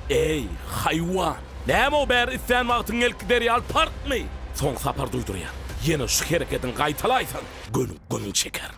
Eý, haýwan! Näme o bäri islän wagtyň gelip gider ýaly parkmy? Soň sapar duýdurýan. Ýene şu herekediňi gaýtalaýsaň, göniň göniň çekerin.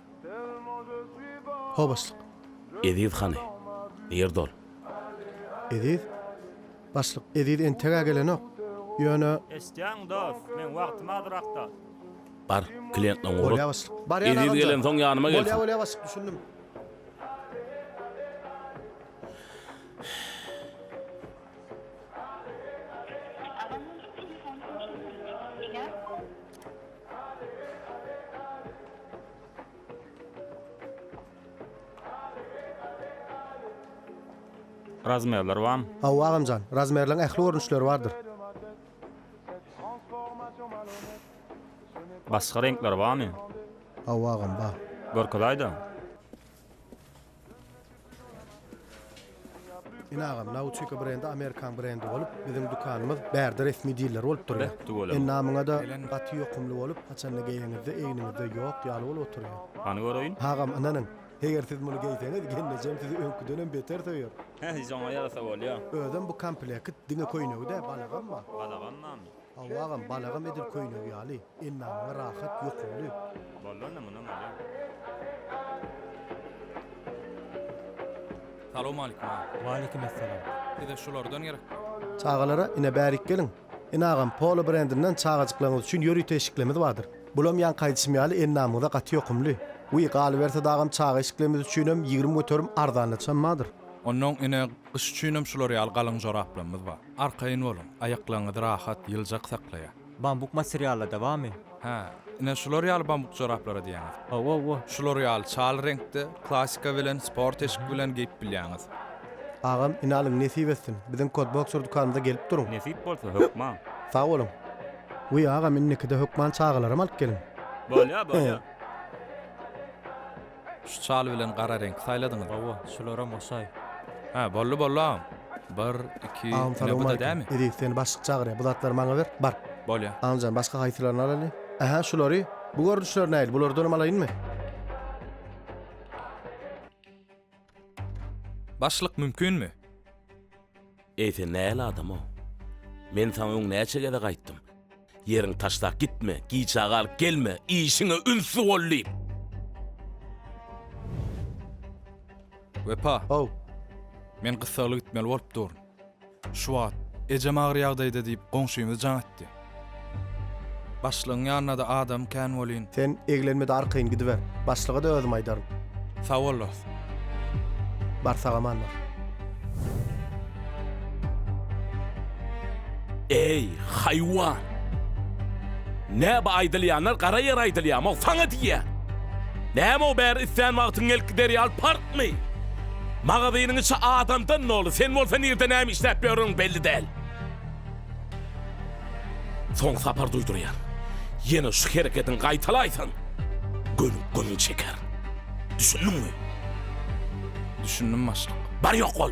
Ho başlyk. Eziz hany? Ýer dol. Eziz? Başlyk, Eziz entegä gelenok. Ýöne. Eşitýäňmi dos, meň wagtym azrakda. Bar, kliýentleň ugrat. Bolýa başlyk. Barýan agam jan. Eziz gelensoň ýanyma gelsin. Bolýa bolýa başlyk, düşündim. Razmerler barmy? Hawa agamjan, razmerleň ähli görnüşleri bardyr. Başga reňkleri barmy? Hawa agam bar. Görkezäýdä. Ine agam Nautica brendi Amerikan brendi bolup biziň dükanymyz bärde resmi diler bolup durýar. Ene namyňada gaty ýokumly bolup haçanda geýeňizde egniňizde ýok ýaly bolup oturýar. Hany göreýin. Agam ynanyň eger siz muny geýseňiz gelnejem sizi öňküdenem beter söýer. Hähi şoňa ýarasa bolýa. Özem bu komplekt diňe köýnegi dä balagam bar. Balagam barmy. Hawa agam balagam edil köýnegi ýaly endamyňa rahat ýokumly. Bollanda mundan alýan. Salowmalikim agam. Waleýkim essalam. Size şulardan gerek. Çagalara ine bärik geliň. Ine agam Polo brendinden çagajyklaryňyz üçin ýörite eşiklemiz bardyr. Bulam ýaňky aýdyşym ýaly endamyňyza gaty ýokumly. Wiý galyberse dagam çaga eşiklemiz üçinem ýigrimi göterim arzanlaçam bardyr. Onnoň ine gyş üçinem şular ýaly galyň joraplamyz bar. Arkaýyn boluň, aýaklaryňyzy rahat, ýyljak saklaýar. Bambuk materialda da barmy? Hä, ine şular ýaly bambuk joraplara diýýäňiz. Hawa, hawa. Şular ýaly çal reňkde, klasika bilen, sport eşik bilen geýip bilýäňiz. Agam, ine alyň, nesip etsin. Biziň Kodboxer dükanymyza gelip duruň. Nesip bolsa, hökman. Sag boluň. Wiý, agam, indikide hökman çagalaram alyp geliň. Bolýar, bolýar. Şu çal bilen gara reňki saýladyňyzmy? Hawa, şularam oşaý. Hä, boldy, boldy agam. Bir, iki, Agam ine bu-da salowmaleýkim. dämi? Eziz, seni başlyk çagyrýar. Bu zatlary maňa ber, bar. Bolýa. Agam jan, başga haýsylaryny alaly? Ähä, şulary. Bu görnüşler nähili, bulardanam alaýynmy? Başlyk mümkinmi? Eý sen nähili adamw? Men saňa öň näçe gezek aýtdym. Ýeriňi taşlap gitme, giçaga alyp gelme, işiňe ünsli bol diýip. Wepa. How. Men gyssagly gitmeli bolup durun. Şu wagt ejem agyr ýagdaýda diýip goňşymyz jaň etdi. Başlygyň ýanynada adam kän welin. Sen eglenmede arkaýyn gidiber. Başlyga-da özüm aýdaryn. Sag bol dost. Bar sagaman bar. Eý, haýwan! Näba aýdylýanlar gara ýere aýdylýarmyog saňa diýýän! Näme o bäri islän wagtyň gelip gider ýaly parkmy? Magazynyň içi adamdan doly, sen bolsa nirde näme işläp ýörüň belli däl. Soň Sapar duýdurýar. Ýene şu hereketiňi gaýtalaýsaň, gönüň gönüň çeker. Düşündiňmi? Düşündim başlyk. Bar ýok bol.